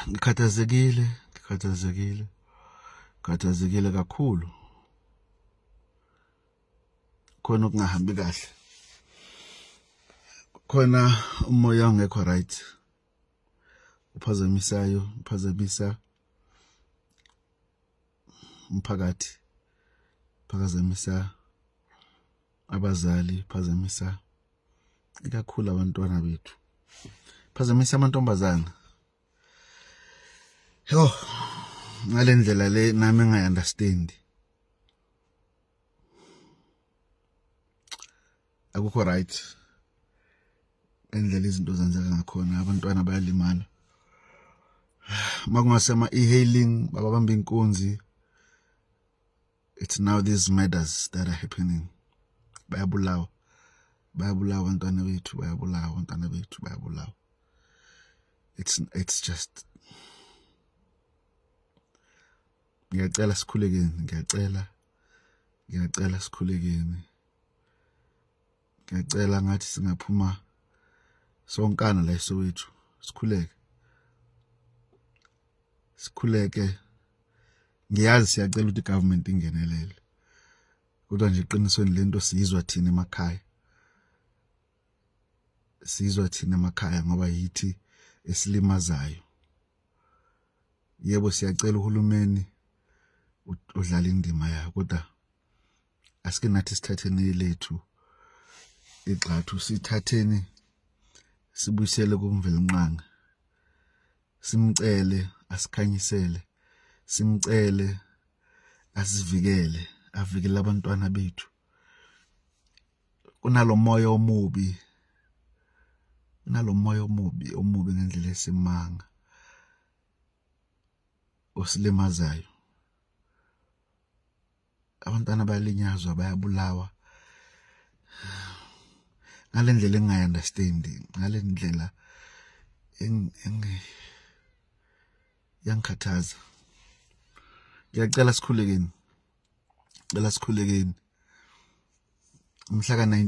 ngikhathazekile ngikhathazekile ngikhathazekile kakhulu khona okungahambi kahle khona umoya ongekho right uphazamisayo uphazamisa umphakathi phakazamisa abazali phazamisa ikakhulu abantwana bethu phazamisa amantombazana yho ngale ndlela le nami engayi-understandi akukho right ngendlela izinto zenzeka ngakhona abantwana bayalimala makungasema e-hailing bababamba inkunzi it's now these murders that are happening bayabulawa bayabulawa abantwana bethu bayabulawa abantwana bethu bayabulawa it's it's just ngiyacela sikhulekeni ngiyacela ngiyacela sikhulekeni ngiyacela ngathi singaphuma sonkana la eSoweto sikhuleke sikhuleke ngiyazi siyacela ukuthi government ingenelele kodwa nje eqinisweni lento siyizwa thina emakhaya sizwa thina emakhaya ngoba yithi esilimazayo yebo siyacela uhulumeni udlala indima yakhe kodwa asike nathi sithatheni ilethu igxathu sithatheni sibuyisele kumvelinqanga simcele asikhanyisele simcele asivikele avikele abantwana bethu kunalomoya omubi kunalomoya omubi omubi ngendlela esimanga osilimazayo abantwana bayalinyazwa bayabulawa ngale ndlela engingayi understand ngale ndlela yangikhathaza ngiyacela sikhulekeni ngicela sikhulekeni umhla ka-19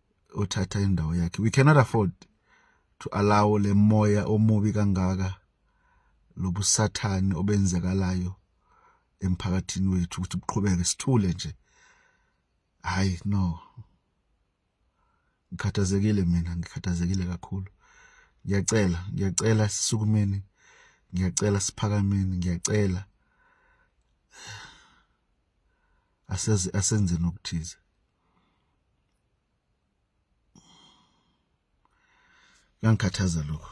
othatha indawo yakhe we cannot afford to allow le moya omubi kangaka lobusathane obenzekalayo emphakathini wethu ukuthi buqhubeke sithule nje hayi no ngikhathazekile mina ngikhathazekile kakhulu ngiyacela ngiyacela sisukumeni ngiyacela siphakameni ngiyacela aseze asenze nokuthize kangikhathaza lokho